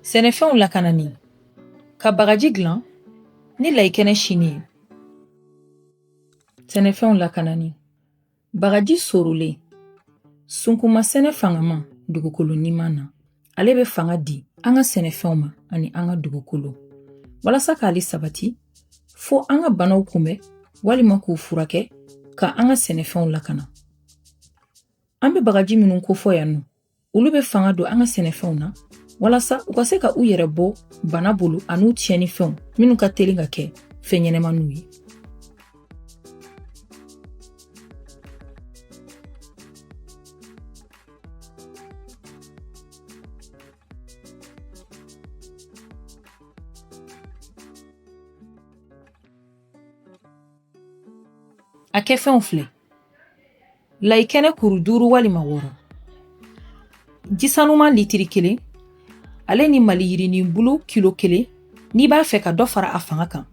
sɛnɛfɛnw lakanani ka bagaji dilan ni layikɛnɛ sinen ye sɛnɛfɛnw lakanani bagaji sorolen sunkunma sɛnɛ fangama dugukolo ɲuman na ale bɛ fanga di an ka sɛnɛfɛnw ma ani an ka dugukolo walasa k'ale sabati fo an ka banaw kunbɛn walima k'u furakɛ ka an ka sɛnɛfɛnw lakana An bɛ bagaji minnu kofɔ yan nɔ olu bɛ fanga don an ka sɛnɛfɛnw na walasa u ka se ka u yɛrɛ bɔ bana bolo an'u tiɲɛnifɛnw minnu ka teli ka kɛ fɛn ɲɛnɛmaniw ye a kɛfɛnw filɛ layi kɛnɛ kuru duuru walima wɔɔrɔ ji sanuma litiri kelen ale ni maliyirinin bulu kilo kelen n'i b'a fɛ ka dɔ fara a fanga kan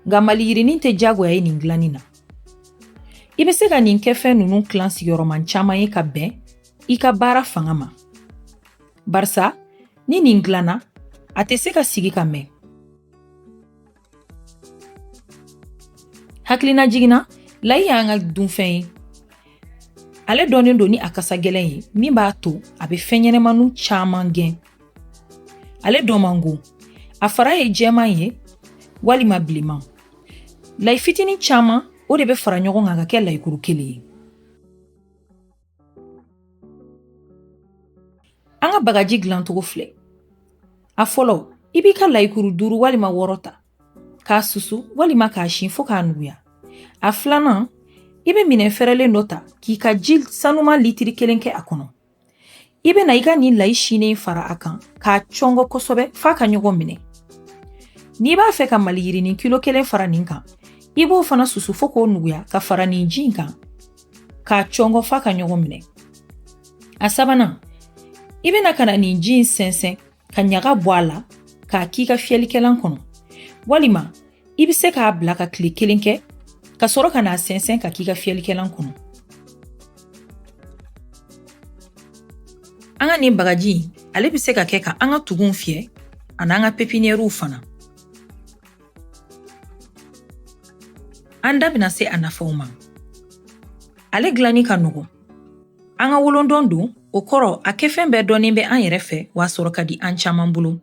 nka maliyirinin tɛ jagoya ye nin dilanni na i bɛ se ka nin kɛfɛn ninnu tilan sigiyɔrɔma caman ye ka bɛn i ka baara fanga ma barisa ni nin dilanna a tɛ se ka sigi ka mɛn hakilinajigin na layi y'an ka dunfɛn ye ale dɔnnen don ni a kasa gɛlɛn ye min b'a to a bɛ fɛn ɲɛnɛmaniw caman gɛn ale dɔn man go a fara ye jɛman ye walima bilenman layi fitinin caman o de bɛ fara ɲɔgɔn kan ka kɛ layikuru kelen ye An ka bagaji dilancogo filɛ a fɔlɔ i b'i ka layikuru duuru walima wɔɔrɔ ta k'a susu walima k'a sin fo k'a nuguya a filanan i bɛ minɛn fɛrɛlen dɔ ta k'i ka ji sanuma litiri kelen kɛ a kɔnɔ i bɛna i ka nin layi sinen fara a kan k'a cɔngɔ kosɛbɛ f'a ka ɲɔgɔn minɛ n'i b'a fɛ ka maliyirinin kilo kelen fara nin kan i b'o fana susu fo k'o nuguya ka fara nin ji in kan k'a cɔngɔ f'a ka ɲɔgɔn minɛ a sabanan i bɛna ka na nin ji in sɛnsɛn ka ɲaga bɔ a la k'a k'i ka fiyɛlikɛlan kɔnɔ walima i bɛ se k'a bila ka tile kelen kɛ ka sɔrɔ ka n'a sɛnsɛn k'a k'i ka fiyɛlikɛlan kɔnɔ an ka nin bagaji ale bɛ se ka kɛ ka an ka tugunw fiyɛ an'an ka pepiniyɛriw fana An da bɛna se a nafaw ma. Ale dilanni ka nɔgɔn. An ka wolondɔn don, o kɔrɔ a kɛfɛn bɛɛ dɔnnen bɛ an yɛrɛ fɛ wa a sɔrɔ ka di an caman bolo.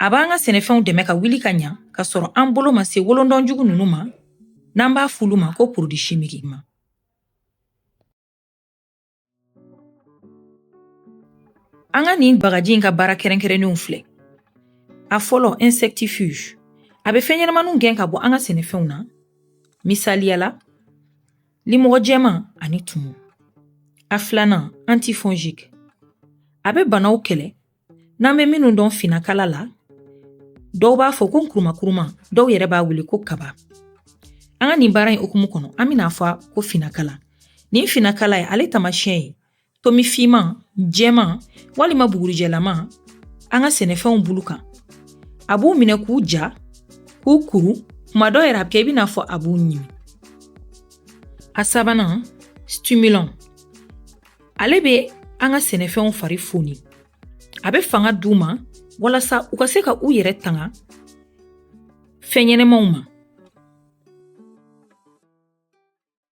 A b'an ka sɛnɛfɛnw dɛmɛ ka wuli ka ɲa ka sɔrɔ an bolo ma se wolondɔn jugu ninnu ma n'an b'a f'ulu ma ko produits chimiques ma. An ka nin bagaji in ka baara kɛrɛnkɛrɛnnenw filɛ a fɔlɔ insectifuge a bɛ fɛn ɲɛnamaniw gɛn ka bɔ an ka sɛnɛfɛnw na misaliya la limɔgɔ jɛman ani tumu a filanan antifongique a bɛ banaw kɛlɛ n'an bɛ minnu dɔn finakala la dɔw b'a fɔ ko nkurumakuruma dɔw yɛrɛ b'a wele ko kaba an ka nin baara in hukumu kɔnɔ an bɛn'a fɔ ko finakala nin finakala ye ale tamasiyɛn ye tomi fiman jɛman walima bugurijɛlama an ka sɛnɛfɛnw bulu kan a b'u minɛ k'u ja k'u kuru kuma dɔ yɛrɛ a bɛ kɛ i bɛn'a fɔ a b'u ɲimi a sabanan stimulant ale bɛ an ka sɛnɛfɛnw fari foni a bɛ fanga d'u ma walasa u ka se ka u yɛrɛ tanga fɛn ɲɛnamaw ma